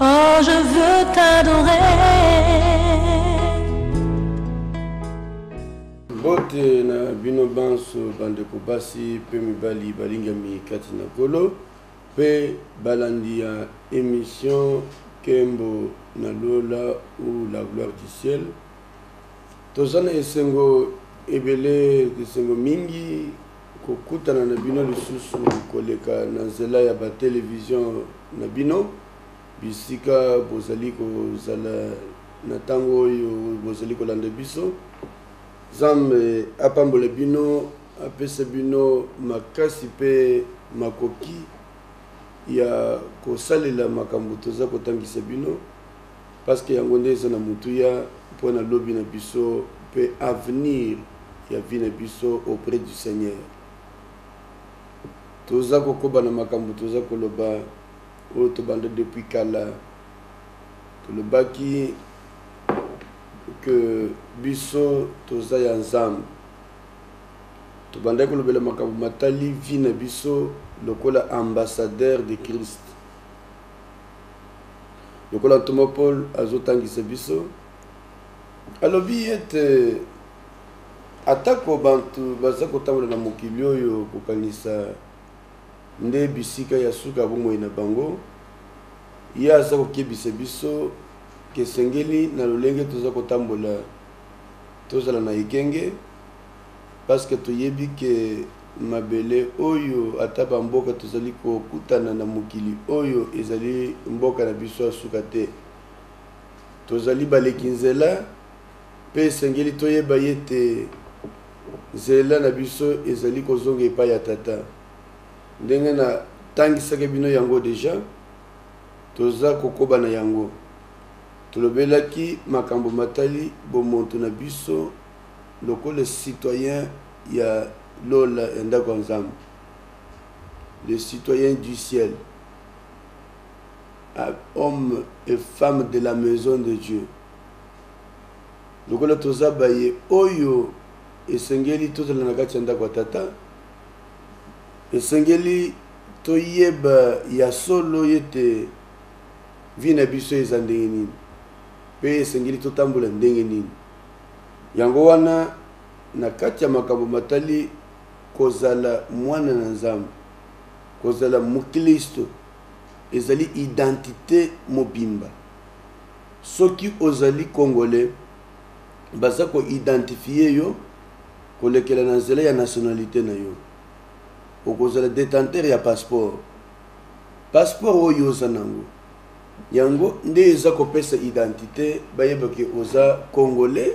Oh, je veux t'adorer. mbote na bino banso bandeko basi mpe mibali balingami kati na kolo mpe balandi ya emission kembo na lola ou la gloire du ciel toza na esengo ebele esengo mingi Kokutana na bino lisusu koleka na nzela ya ba televizio na bino, bisika bozali kozala na tango oyo bozali kolanda biso. Nzambe apambola bino, apesa bino makasi pe makoki ya kosalela makambo toza kotangisa bino. Parce que yango nde eza na motuya mpo na lobi na biso mpe avenir ya vie na biso auprès du Seigneur. Toza kokoba na makambo toza koloba oyo tobanda depuis kala. Tolobaki que biso toza ya Nzambe. Tobandaki kolobela makambo matali vie na biso lokola ambassadeur de Christ. lokola ntoma Paul azotangisa biso, alobi ete atako bantu baza kotambola na mokili oyo kokanisa nde bisika ya suka ya bomoi na bango, ye aza kokebisa biso kesengeli na lolenge toza kotambola tozala na ekenge. parce que toyebi que mabele oyo ata ba mboka tozali kokutana na mokili oyo ezali mboka na biso ya suka te. Tozali baleki nzela mpe esengeli toyeba yete nzela na biso ezali kozonga epai ya Tata. Ndenge na tangisaki bino yango deja, toza kokoba na yango. Tolobelaki makambo matali bomontu na biso. Lokola citoyen ya lola, ya ndako ya Nzambe, les citoyens du ciel, hommes et femmes de la maison de Dieu, lokola toza baye oyo esengeli tozala na kati ya ndako ya Tata, esengeli toyeba ya solo ete vie na biso eza ndenge nini mpe esengeli totambola ndenge nini. Yango wana, na kati ya makambo matali kozala mwana na Nzambe, kozala moklisto ezali identite mobimba. Soki ozali Congolais, baza ko identifier yo kolekela na nzela ya nationalite na yo. Okozala detenteur ya passeport. Passeport oyo oza na yango. Yango nde eza kopesa identite bayeba ke oza congolais,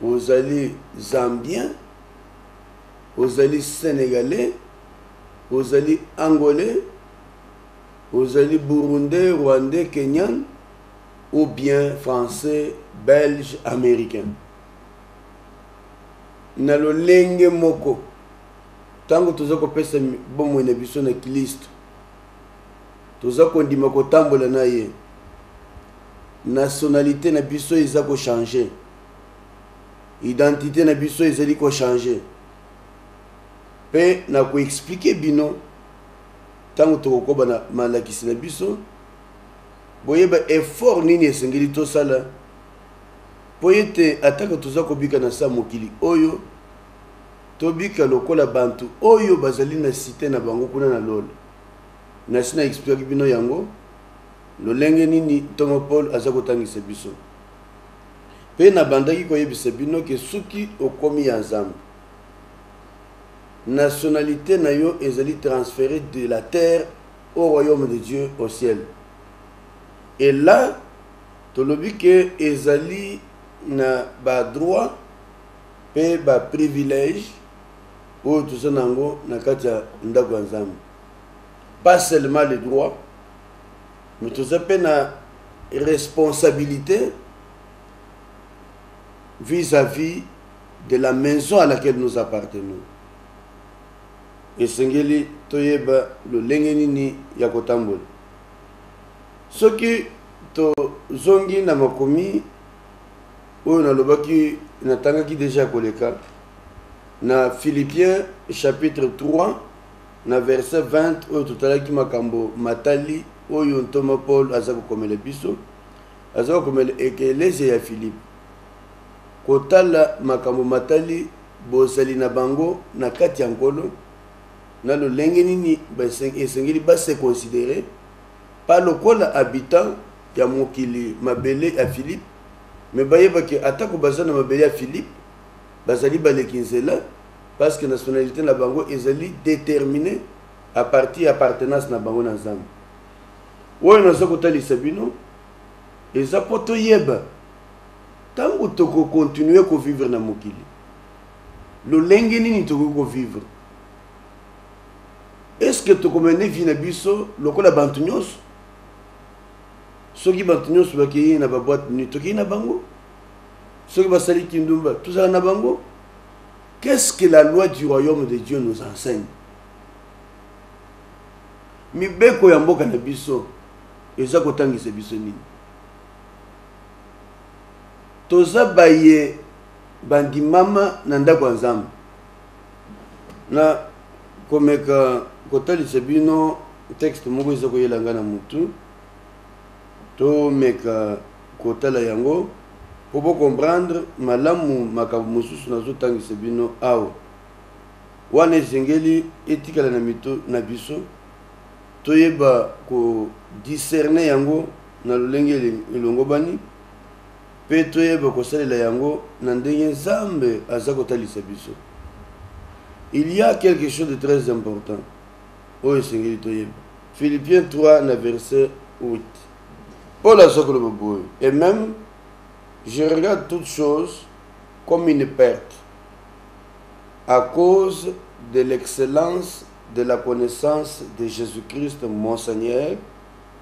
ozali zambien, ozali senegalais, ozali angolais, ozali burundais, rwandais, kenyan ou bien français, belge, americain. Na lolenge moko, tango toza kopesa bomoi na biso na Klisto, toza kondima kotambola na ye nationalite na biso eza ko changer identite na biso ezali ko changer mpe na koexplike bino ntango tokokoba na malakisi na biso boyeba effort nini esengeli tosala mpo ete atako toza kobika na saa mokili oyo tobika lokola bantu oyo bazali na site na bango kuna na lola nasi na expliquaki bino yango lolenge nini ntongo Paul aza kotangisa biso. Pe na bandaki koyebisa bino ke soki okomi ya Nzambe, nationalite na yo ezali transfere de la terre au royaume de Dieu au ciel. Et là, tolobi ke ezali na ba droit pe ba privilege oyo toza na yango na kati ya ndako ya Nzambe. Pas seulement le droit, mais toza pe na responsabilite vis-à-vis -vis de la maison à laquelle nous appartenons esengeli toyeba lolenge nini ya kotambola soki tozongi na makomi oyo nalobaki natangaki deja koleka na philippiens chapitre 3 na verset 20 oyo totalaki makambo matali oyo ntoma paul aza kokomela biso aza kokomela ekelesia ya philipe kotala makambo matali bozali na bango na kati ya nkolo na lolenge nini esengeli basekonsidere pa lokola habitant ya mokili mabele ya Filipe, mais bayeba que atako baza na mabele ya Filipe bazali baleki nzela parce que nationalite na bango ezali determine à partir ya appartenance na bango na Nzambe. Oyo naza kotalisa bino eza mpo toyeba ntango tokokontinue kovivre na mokili lolenge nini tokoki kovivre estce tokomene vi na biso lokola bantu nyonso soki bato nyonso bakei na baboite nuit tokei na bango soki basali kindumba tozala na bango qu'est ce que la loi du royaume de dieu nous enseigne mibeko ya mboka na biso eza kotangisa biso nini toza baye bandimama na ndako ya nzambe na komeka kotalisa bino texte moko eza koyela nga na mutu tomeka kotala yango po bo comprendre malamu makambo mosusu nazotangisa bino awa wana esengeli etikala na mito na biso toyeba kodiscerne yango na lolenge elongobani Mpe toyeba kosalela yango na ndenge Nzambe aza kotalisa biso. Il ya quelque chose de très important oyo esengeli toyeba. Philippiens 3 na verset 8. Paul aza koloba boye, et meme je regarde toute chose comme une perte à cause de l'excellence de la connaissance de Jesus-Christ mon Seigneur,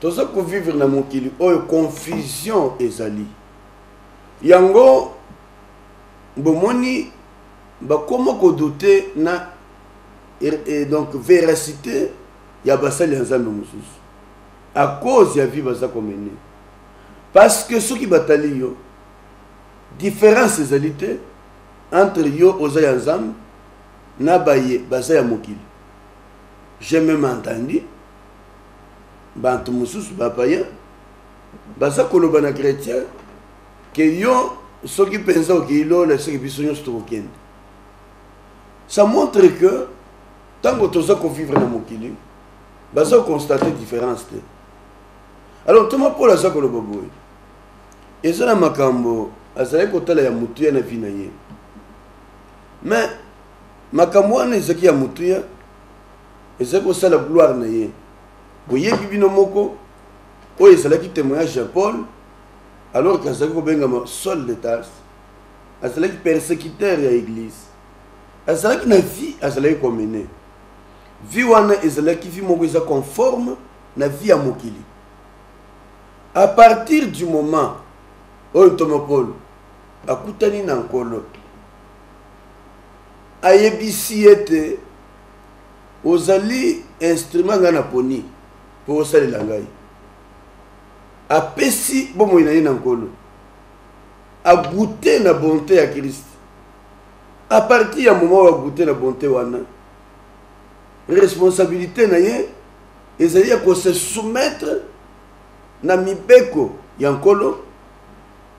Toza ko vivre na mokili oyo confusion ezali. Yango bomoni bakoma ko douter na et donc veracite ya basali ya Nzambe mosusu à cause ya vie baza ko mener. Parce que soki batali yo différence ezali te entre yo oza ya Nzambe na baye baza ya mokili. J'ai même entendu bantu mususu ba païen baza koloba na chrétien ke yo soki mpenza okei lola eseke biso nyonso tokokende ça montre que ntango toza kovivre na mokili baza koconstate différence te alors ntoma paul aza koloba boye eza na makambo azalaki kotala ya motuya na vi na ye mais makambo wana ezalaki ya motuya Ezali kosala gloire na ye. Boyebi bino moko oyo ezalaki temoignage ya Paul alors que azalaki kobengama Saul de Tarse. Azalaki persecuteur ya eglise. Azalaki na vie azalaki komene. Vie wana ezalaki vie moko eza conforme na vie ya mokili. À partir du moment oyo ntoma Paul akutani na Nkolo ayebisi ete Ozali instrument ngai naponi mpo osalela ngai. Apesi bomoi na ye na Nkolo. A goute na bonte ya Christ. A partir ya moment oyo a goute na bonte wana, responsabilite na ye ezali ya ko se soumettre na mibeko ya Nkolo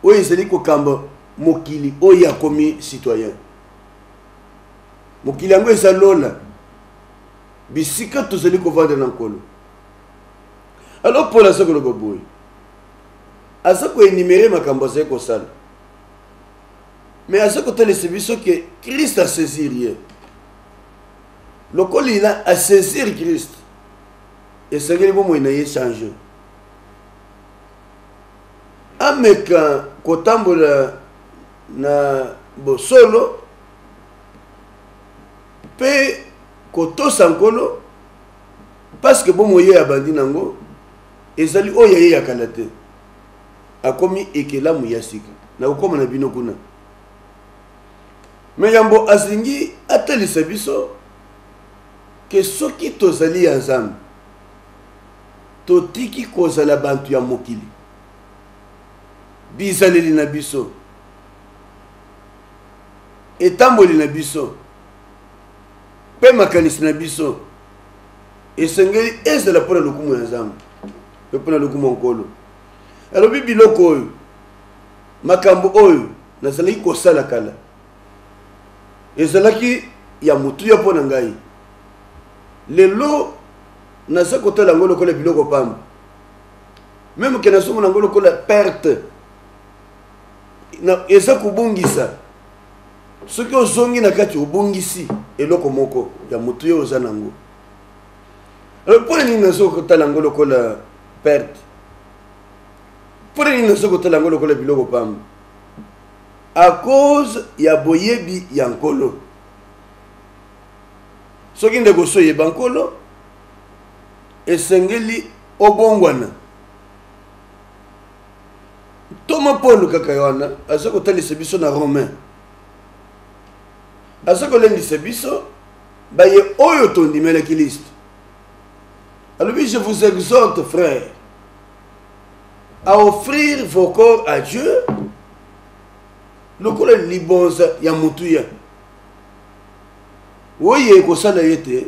oyo ezali kokamba mokili oyo akomi citoyen. mokili yango eza lola bisika tozali kovanda na nkolo alo paul aza koloba boye aza koenimere makambo azali kosala me aza kotalisa biso ke krist asaisir ye lokola ina asaisir krist esengeli bomoi na ye change ameka kotambola na bosolo mpe kotosa Nkolo, paske bomoi oyo abandi na yango ezali oyo ya ye ya kala te, akomi ekelamu ya sika. Nakokoma na bino kuna. Me yambo azingi atalisa biso ke soki tozali ya Nzambe, totiki kozala bato ya mokili. bizaleli na biso, etamboli na biso mpe makanisi na biso esengeli ezala mpo na lokumu ya nzambe mpe mpo na lokumu ya nkolo alobi biloko oyo makambo oyo nazalaki kosala kala ezalaki ya motuya mpo na ngai lelo naza kotala yango lokola biloko pamba meme ke nazomona yango lokola perte eza kobungisa soki ozongi na kati obungisi eloko moko ya motu yo oza nango alors mpo na nini nazo kotala yango lokola perte mpo na nini nazo kotala yango lokola biloko pamba a cause ya boyebi ya nkolo soki ndeko so oyeba nkolo esengeli obongwana ntoma paul kaka wana aza kotalisa biso na romain aza kolendisa biso baye oyo tondimelaki liste alobi je vous exhorte frère à offrir vos corps à dieu lokola libonza ya motuya oyo ekosala ye te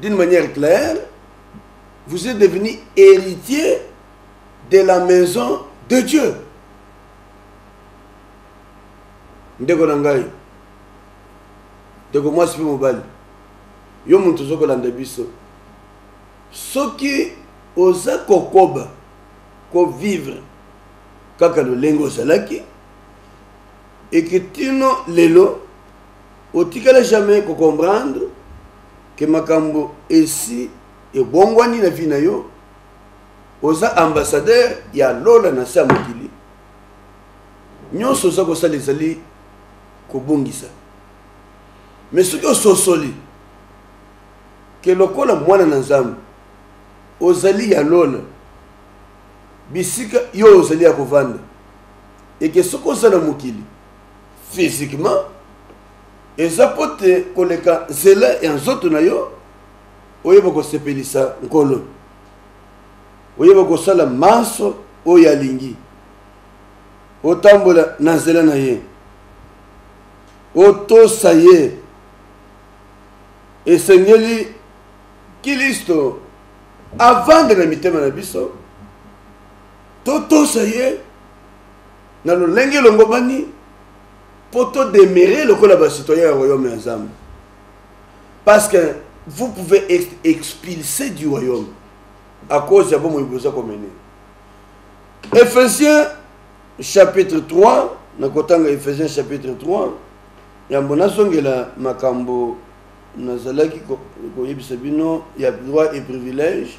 d'une manière claire, vous êtes devenu héritier de la maison de Dieu. ndeko na ngai ndeko mwasi mpe mobali yo moto ozokolanda biso soki oza kokoba kovivre kaka lolenge ozalaki Et que tino lelo otikala jamais ko comprendre que makambo esi ebongwani na vie na yo oza ambassadeur ya lola na se ya mokili nyonso oza kosala ezali kobungisa me soki ososoli ke lokola mwana na nzambe ozali ya lola bisika yo ozali ya kovanda et que soki oza na mokili physiquement eza mpo te koleka nzela ya nzoto na yo oyeba kosepelisa nkolo oyeba kosala manso oyo alingi otambola na nzela na ye otosa ye esengeli kilisto avanda na mitema na biso Totosa ye na lolenge elongobani mpo todemere lokola basitoyen ya royaume ya nzambe parce que vous pouvez être expulsé du royaume à cause ya bomoi boza komene ephésiens chapitre 3 nakotanga ephésiens chapitre 3 yambo nazongela makambo nazalaki koyebisa bino ya droit et privilège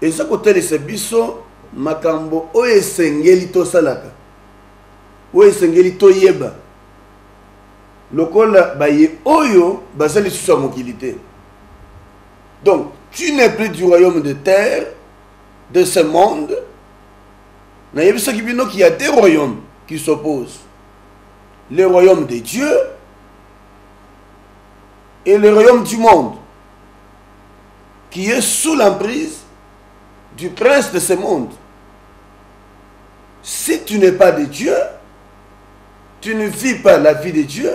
Eza kotalisa biso makambo oyo esengeli tosalaka, oyo esengeli toyeba lokola baye oyo baza lisusu ya mokili te. Donc, tu n'es plus du royaume de terre, de ce monde. Nayebisaki bino qu'il y a deux royaumes qui s'opposent. Le royaume de Dieu et le royaume du monde. qui est sous l'emprise du prince de ce monde. Si tu n'es pas de Dieu, tu ne vis pas la vie de Dieu,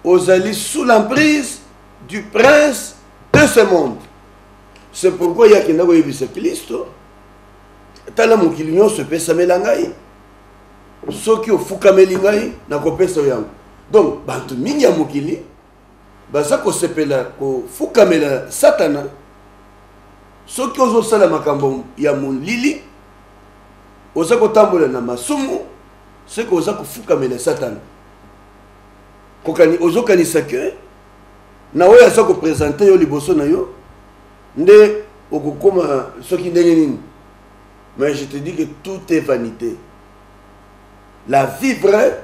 ozali sous l'emprise du prince de ce monde. C'est pourquoi il y a qui n'a pas vu ce Christ. tala mokili nyonso epesamela ngai soki ofukameli ngai nakopesa yo yango donc bato mingi ya mokili baza kosepela kofukamela satana soki ozosala makambo ya molili oza kotambola na masumu soki oza kofukamela satana ozokanisa ke na oyo aza kopresente yo liboso na yo nde okokoma soki ndenge nini mais je te dis que tout est vanité la vie vraie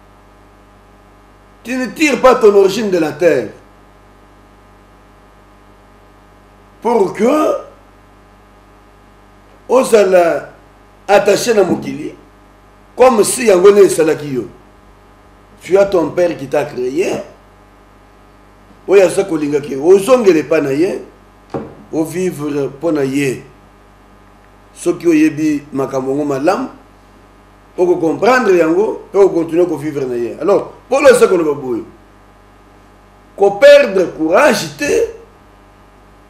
Tu ne tires pas ton origine de la terre. Pour que ozala attaché na mokili comme si yango nde esalaki yo tu as ton père qui t'a créé oyo aza kolinga ke ozongela epai na ye ovivre mpo na ye soki oyebi makambo yango malamu oko comprendre yango pe o continuer ko vivre na ye alors polo eza koloba boye ko perdre courage te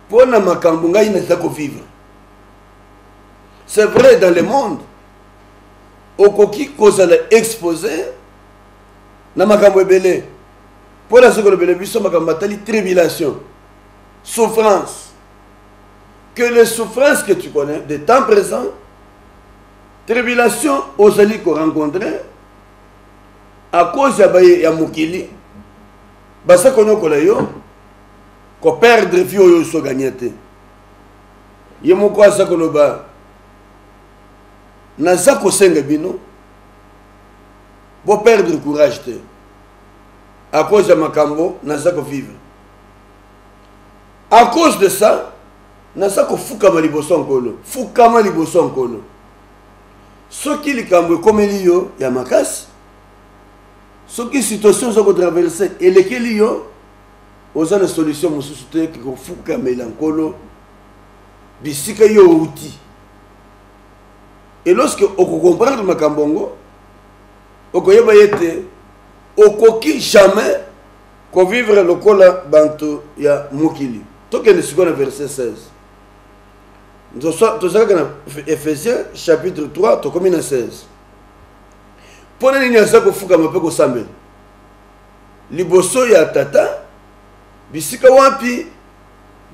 mpo na makambo ngai naza ko vivre c'est vrai dans le monde okoki kozala expose na makambo ebele mpo na soki olobele biso makambo matali tribulation souffrance que les souffrances que tu connais de temps présent tribulation ozali ko rencontrer à cause ya baye ya mokili basa konyokola yo ko perdre vie oyo oso gagner te ye moko aza koloba naza kosenga bino boperdre courage te à cause ya makambo naza kovivre à cause de ça Naza kofukama liboso ya Nkolo. Fukama liboso ya Nkolo. Soki likambo ekomeli yo ya makasi, soki situation oza kotraverse elekeli yo, oza na solution mosusu te ke kofukamela Nkolo bisika yo outi. Et lorsque okokomprendre makambo yango, okoyeba ete okoki jamais Ko vivre lokola banto ya mokili. Tokende sikoyo na verset 16. tozalaki na ephésiens chapitre 3 tokomi na 16 mpo na nini aza kofukama mpe kosambela liboso ya tata bisika wapi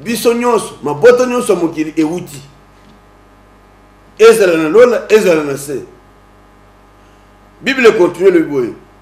biso nyonso mabota nyonso ya mokili ewuti ezala na lola ezala na se biblia ekontinue elobi boye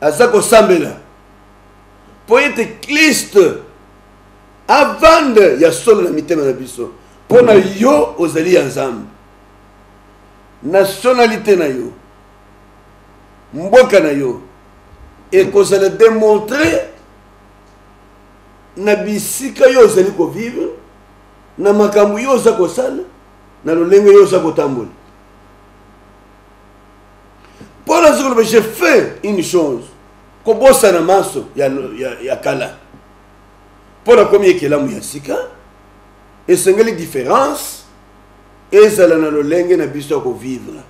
aza kosambela mpo ete kliste avande ya solo na mitema na biso mpo na yo ozali ya nzambe nationalité na yo mboka na yo ekozala demontre na bisika yo ozali kovivre na makambo yo oza kosala na lolenge yo oza kotambola mpo nazo koloba je fait une chose kobosana manso ya, ya, ya kala mpo nakomi ekelamu ya sika esengeli différence ezala na lolenge na biso ya kovivre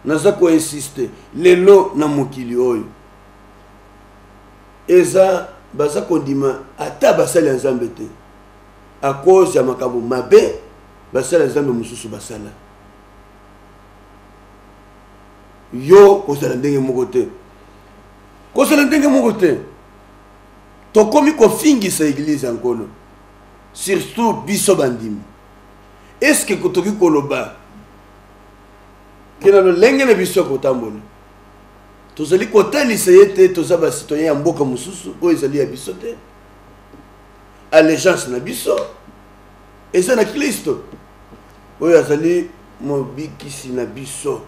naza koinsiste lelo na mokili oyo eza baza kondima ata basali ya nzambe te a cause ya makambo mabe basali ya nzambe mosusu basala yo kozala ndenge moko te kozala ndenge moko te tokomi kofingisa eglize ya nkolo surtout biso bandimi eske toki koloba kena lolenge na biso ya kotambola tozali kotalisa ye te toza basitoyen ya mboka mosusu oyo ezali ya biso te allegence na biso eza na klisto Oyo azali mobikisi na biso.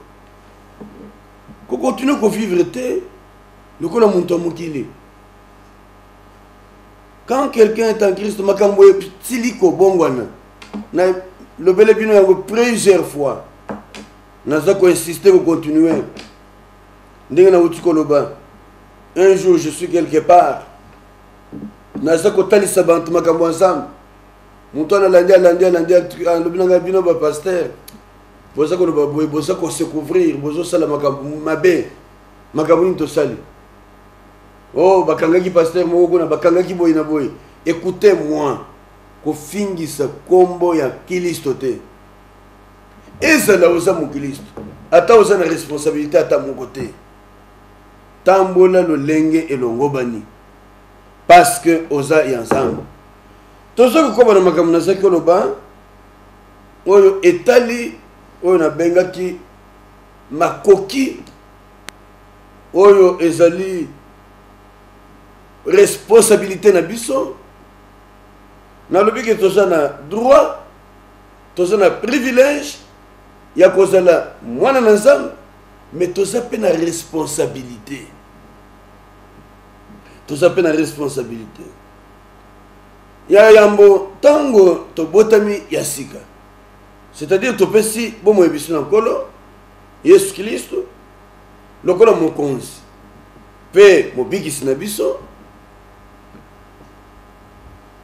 Kokontinue kovivre te lokola moto ya mokili. Quand quelqu'un est en Christ, makambo esili kobongwana. Na lobele bino yango plusieurs fois. Naza ko insister ko continuer. Ndenge na wuti koloba. Un jour je suis quelque part. Naza kotalisa bantu makambo ya Nzambe. moto wana alandi alandi alandi alobi na ngai bino bapaster boza koloba boye boza kosecouvrir bozosala makambo mabe makambo nini tosali o oh, bakangaki paster moko kuna bakangaki boye na boye ekoute moi kofingisa nkombo ya kilisto te ezala oza mokilisto ata oza na responsabilité ata moko te tambola lolenge elongobani parce que oza ya nzambe toza kokoba na makambo nazaki oloba oyo etali oyo nabengaki makoki oyo ezali responsabilité na biso nalobi ke toza na droit toza na privilège ya kozala mwana na nzambe me toza mpe na responsabilité toza mpe na responsabilité Ya yambo, ntango tobotami ya sika, c'est-à-dire topesi bomoi biso na Nkolo Yesu Klisto lokola Mokonzi mpe Mobikisi na biso,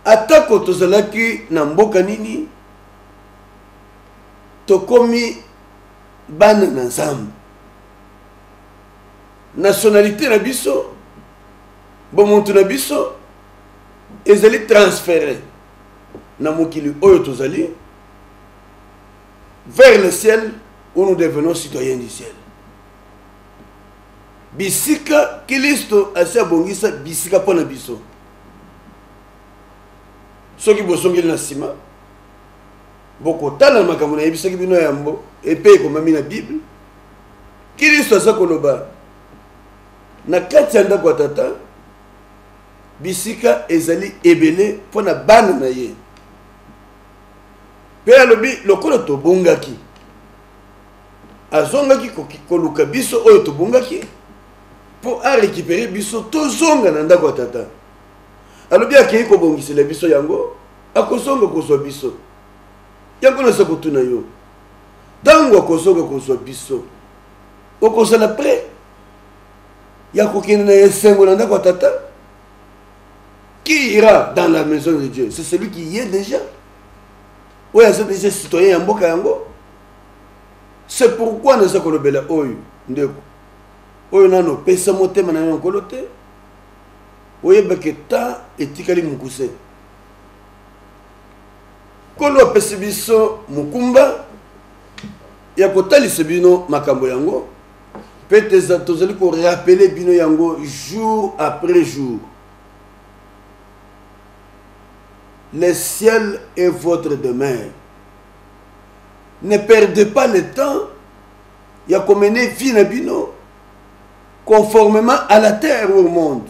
atako tozalaki na mboka nini, tokomi bana na Nzambe. Nationalite na biso bomoto na biso ezali transfere na mokili oyo tozali vers le ciel où nous devenons citoyens du ciel bisika kilisto asi abongisa bisika mpo na biso soki bozongeli na nsima bokotala makambo nayebisaki bino yambo epe ekomami na bible kilisto aza koloba na kati ya ndako ya tata bisika ezali ebele mpo na bana na ye mpe alobi lokola tobungaki azongaki koluka biso oyo tobungaki mpo arekipere biso tozonga na ndako ya tata alobi akei kobongisela biso yango akozonga kozwa biso yango naza kotuna yo ntango akozonga kozwa biso okozala prêt ya kokende na esengo na ndako ya tata qui ira dans la maison de dieu c'est celui qui y est déjà oyo aza déjà citoyen ya mboka yango c'est pourquoi naza kolobela oyo ndeko oyo nano opesa motema na yo nkolo te oyebake ta etikali mokuse nkolo apesi biso mokumba ya kotalisa bino makambo yango mpe tozali korapele bino yango jour après jour le ciel est votre demeure ne perdez pas le temps ya komene vie na bino conformément à la terre au monde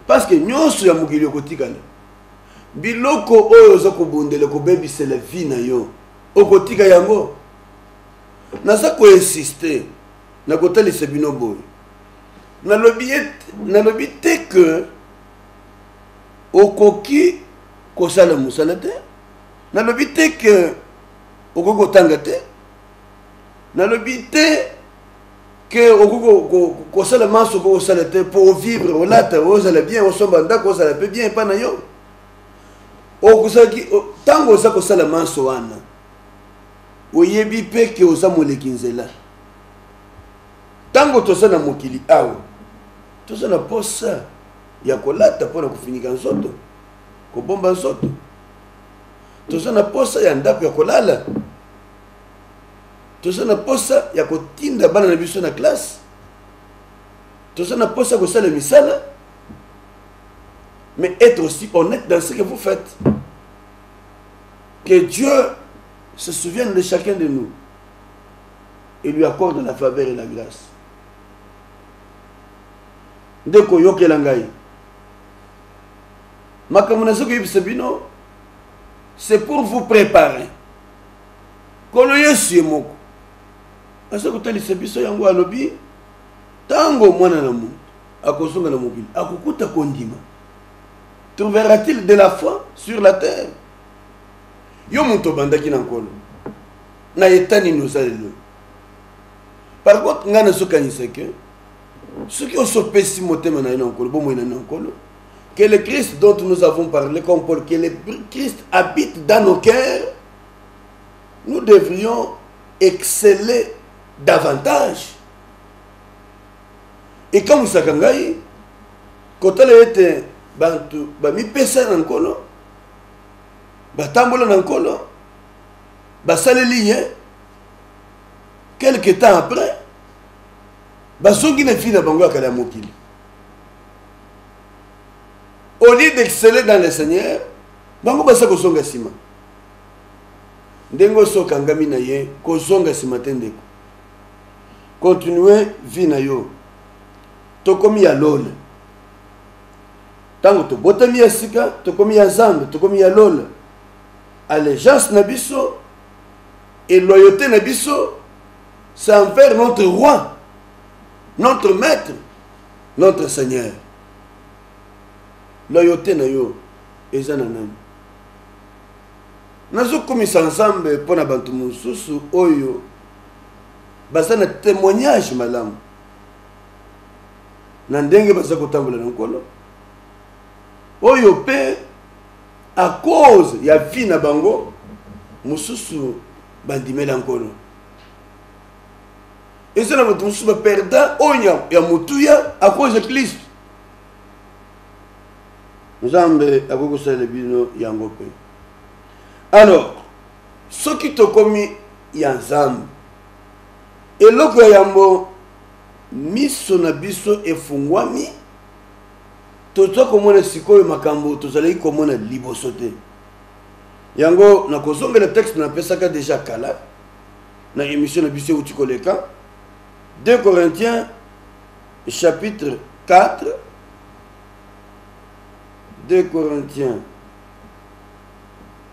parce que nyonso ya mokili okotikala biloko oyo oza kobundela kobebisela vie na yo okotika yango naza koinsiste na kotalisa bino boye nalobi nalobi te ke okoki kosala mosala te nalobi te ke okoki kotanga te nalobi te ke okoki kosala manso okoki kosala te mpo ovivre olata ozala bien osomba ndako ozala mpe bien epai na yo okozalaki ntango oza kosala manso wana oyebi mpe ke oza moleki nzela ntango toza na mokili awa toza na posa ya kolata mpo na kofinika nzoto kobomba nzoto toza na posa ya ndako ya kolala toza na posa ya kotinda bana na biso na classe toza na posa ya kosala misala mais être aussi honnête dans ce que vous faites. Que Dieu se souvienne de chacun de nous et lui accorde la faveur et la grâce. ndeko yokela ngai makambo nazoki yebisa bino c'est pour vous préparer nkolo yesu ye moko aza kotalisa biso yango alobi ntango mwana na moto akozonga na mokili akokuta kondima trouvera-t-il de la foi sur la terre yo moto obandaki na nkolo na eta nini oza lelo par contre ngai nazokanisa ke soki osopesi motema na yo na nkolo bomoi na yo na nkolo que le christ dont nous avons parlé comme paul que le christ habite dans nos cœurs nous devrions exceller davantage ekamwisaka ngai kotala ete bato bamipesa na nkolo batambola na nkolo basaleli ye quelque temps après bazongi na vie na bango ya kala ya mokili au lieu d'exceller dans le seigneur bango baza kozonga nsima ndenge osi okangami na ye kozonga nsima te ndeko continuer vie na yo tokomi ya lola ntango tobotami ya sika tokomi ya nzambe tokomi ya lola allégeance na biso et loyauté na biso c'est envers notre roi notre maître notre seigneur loyauté na yo eza na nani nazokumisa nzambe mpo na bato mosusu oyo baza na temoignage malamu na ndenge baza kotambola na nkolo oyo mpe a cause ya vie na bango mosusu bandimela nkolo eza na bato mosusu baperda oyo ya motuya a cause ya klisto nzambe akoki kosalela bino yango mpe alors Soki tokomi ya Nzambe, eloko ya yambo miso na biso efungwami, toza komona sikoyo makambo tozalaki komona liboso te. Yango na kozongela texte na pesaka deja kala na emission na biso euti koleka 2 Corinthiens chapitre 4 2 Corinthiens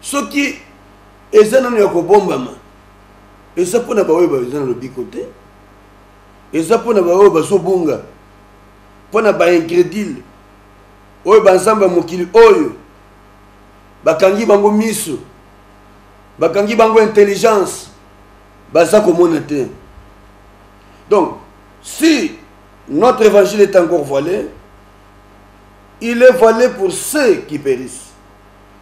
soki eza nano ya kobombama eza mpo na baoyo baza na lobiko te eza mpo na baoyo bazobunga mpo na baingredile oyo banzambe ya mokili oyo bakangi bango miso bakangi bango intelligence baza komona te donc si notre évangile est encore voilé il est voilé pour ceux qui périssent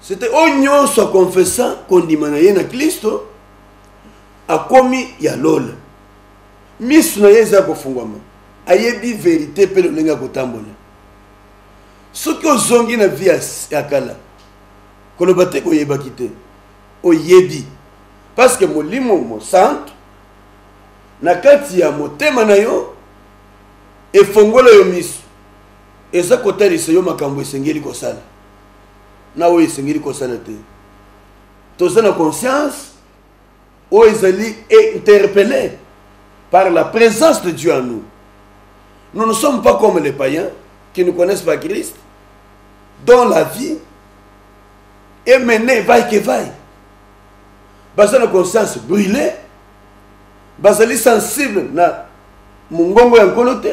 sete oyo nyonso akonfesa kondima na ye na klisto akomi ya lola miso na ye eza kofungwama ayebi verite mpe lolenge ya kotambola soki ozongi na vi ya kala koloba te koyebaki te oyebi parceke molimo mosantu na kati ya motema na yo efongola yo miso eza kotalisa yo makambo esengeli kosala na oyo esengeli kosala te toza na conscience oyo ezali interpellé par la présence de dieu en nous nous ne sommes pas comme les païens qui ne connaissent pas christ dont la vie est menée vaille que vaille baza na conscience brûlée bazali sensible na mongongo ya nkolo te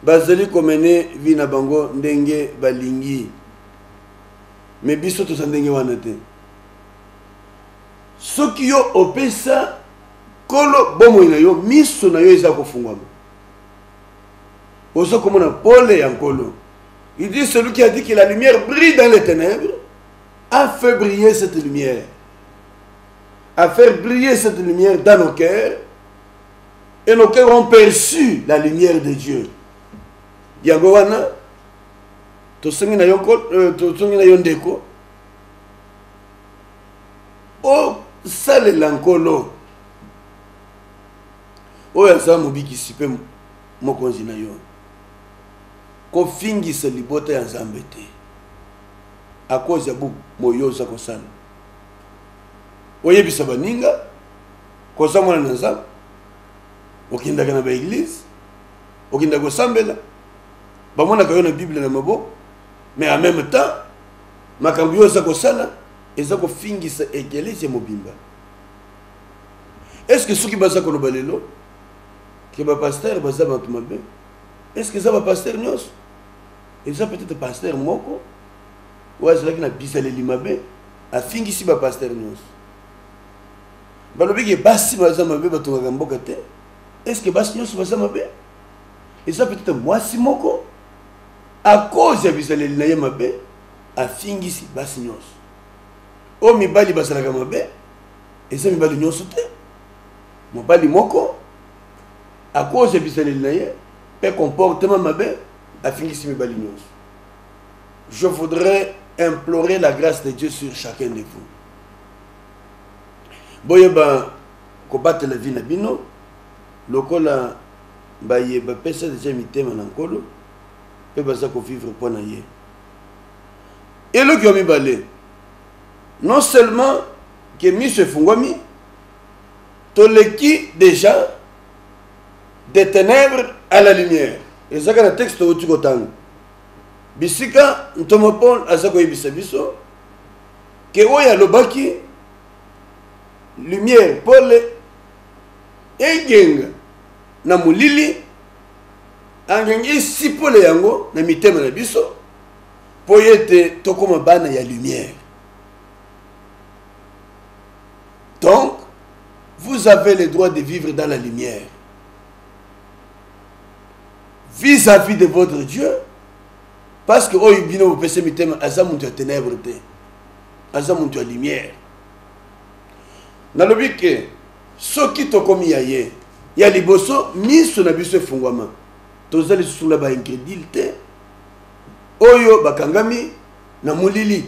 Bazali ko mener vie na bango ndenge balingi mais biso toza ndenge wana te. Soki yo opesa kolo bomoi na yo miso na yo eza kofungwama oza komona pole ya nkolo il dit celui qui a dit que la lumière brille dans les ténèbres a fait briller cette lumière à faire briller cette lumière dans nos cœurs et nos cœurs ont perçu la lumière de Dieu. Yango wana tosengi na yo euh, tosengi na yo ndeko osalela nkolo oyo aza mobikisi mpe mokonzi na yo kofingisa libota ya nzambe te akozi ya boye oza kosala oyebisa baninga koza mwana na nzambe okendaka na baeglize okendaka kosambela bamonaka yo na bible na maboko mais en même temps makambo yo oza kosala eza kofingisa eglise mobimba est ce que soki baza koloba lelo ke bapastere baza bato mabe est ce que eza bapastere nyonso eza peut-être pastere moko oyo azalaki na bizaleli mabe afingisi bapastere nyonso balobi ke basi baza mabe batongaka mboka te est ce que basi nyonso baza mabe eza peut-être mwasi moko à cause ya bizaleli na ye mabe afingisi basi nyonso oyo mibali bazalaka mabe eza mibali nyonso te mobali moko à cause ya bizaleli na ye mpe comportement mabe afingisi mibali nyonso je voudrais implorer la grâce de dieu sur chacun de vous boyeba kobatela vie na bino lokola baye bapesa deja mitema na nkolo mpe baza kovivre mpo na ye eloko ya mibale non seulement ke miso efungwami toleki deja de ténèbres à la lumière ezaka na texte outi kotanga bisika ntoma paul aza koyebisa biso ke oyo alobaki lumière pole egenga na molili angenga esi pole yango na mitema na biso mpo ete tokoma bana ya lumière donc vous avez le droit de vivre dans la lumière vis-à-vis -vis de votre Dieu parce que oyo bino bopese mitema aza mutu ya ténèbre te aza mutu ya lumière nalobi ke soki tokomi ya ye ya liboso miso na biso efungwama toza lisusu na baingredile te oyo bakangami na molili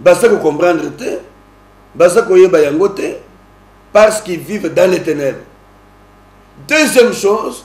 baza kocomprendre te baza koyeba yango te parce qu'ils vivent dans les ténèbres deuxième chose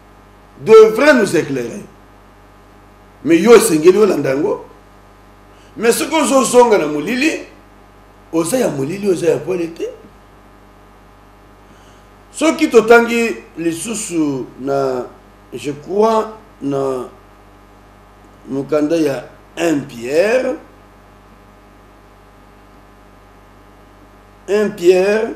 devrait nous éclairer mais yo esengeli olanda yango mais soki ozozonga na molili oza ya molili oza ya pole te soki totangi lisusu na je crois na mokanda ya 1 pierre 1 pierre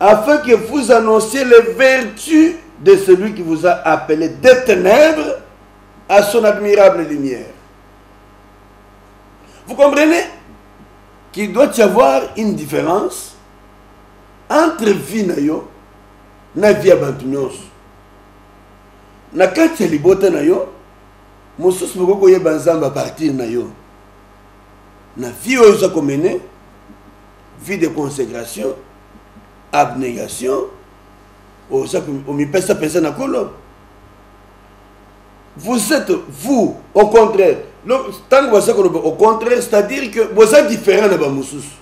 afin que vous annonciez les vertus de celui qui vous a appelé des ténèbres à son admirable lumière. Vous comprenez qu'il doit y avoir une différence entre vie na yo na vie ya bantu nyonso na kati ya libota na yo mosusu bokoki koyeba nzambe apartir na yo na vie oyo oza komene vie de consecration abnegation oza omipesa mpenza na kolo vous êtes vous au contraire ntango baza koloba au contraire c'est à dire que boza différent na bamosusu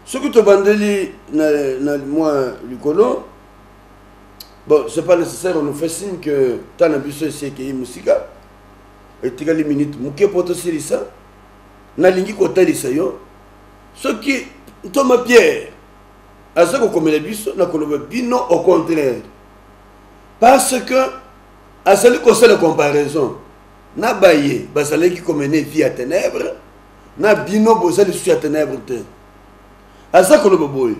soki tobandeli na, na mwa likolo bon c'est pas nécessaire on fait signe que ntan na biso esi ekei mosika etikali minute moke mpo tosilisa nalingi kotalisa yo soki ntoma pierre aza kokomela biso na koloba bino au contraire parce que azali kosala comparaison na baye bazalaki komene vie ya ténèbre na bino boza lisusu ya ténèbre te aza koloba boye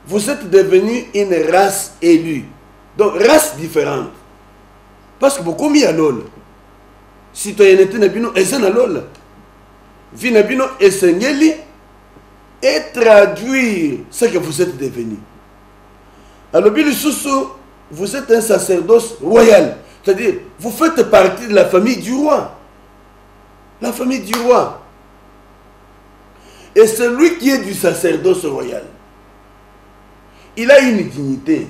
vous êtes devenu une race élue donc race différente parce que bokomi ya lola citoyenneté na bino eza na lola vie na bino esengeli etraduire ce que vous êtes devenu alobi lisusu vous êtes un sacerdoce royal c'est-à-dire vous faites partie de la famille du roi la famille du roi et celui qui est du sacerdoce royal il a une dignité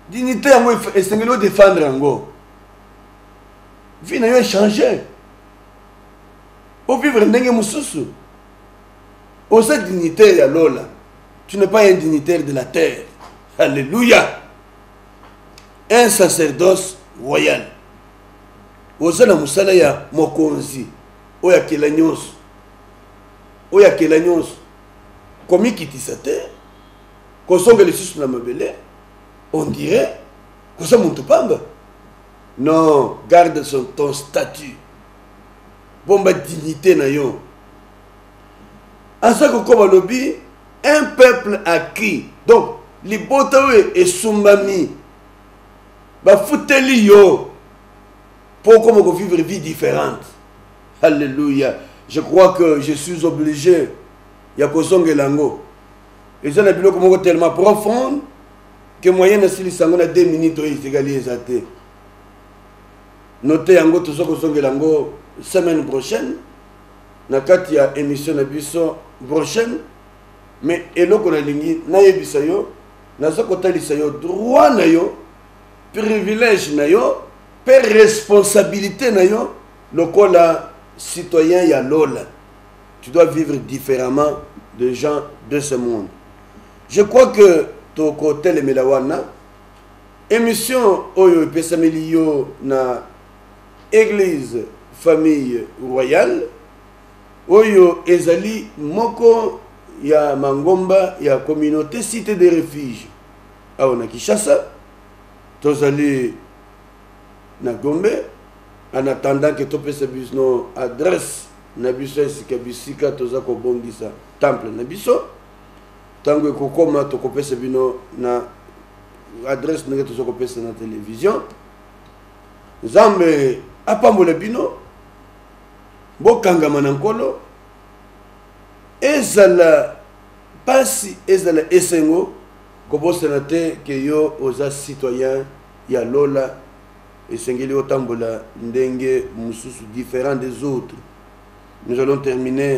dignité yango esengeli odefendre yango vie na yo echange ovivre ndenge mosusu oza dignitaire ya lola tu n'es pas un dignitaire de la terre alléluia un sacerdoce royal oza na mosala ya mokonzi oyo akela nyonso oyo akela nyonso komikitisa te kozonga lisusu na mabele on dirait Oza muntu pamba? Non, garde son ton statut. Bomba dignité na yo. Aza kokoba lobi un peuple à qui donc libota oyo esumbami bafuteli yo mpo okoma kovivre vie différente halleluya je crois que je suis obligé ya kozongela yango eza na biloko moko tellement profonde ke moyen nasilisa yango na 2 minutes oyo etikali eza te note yango toza kozongela yango semaine prochaine na kati ya émission na biso prochaine mais eloko nalingi nayebisa yo naza kotalisa yo droit na yo privilège na yo mpe responsabilité na yo lokola citoyen ya lola tu dois vivre différemment de gens de ce monde Je crois que tokotelemela wana emission oyo epesameli yo na eglise famille royale oyo ezali moko ya mangomba ya communauté cité de refuge awa na kinshasa tozali na gombe en attendant ke topesa bisno adresse na biso esika bisika toza kobongisa temple na biso tango ekokoma tokopesa bino na adresse ndenge toza kopesa na television nzambe apambola bino bokangama na nkolo ezala mpasi ezala esengo kobosana te ke yo oza citoyen ya lola esengeli otambola ndenge mosusu différent des autres nous allons terminer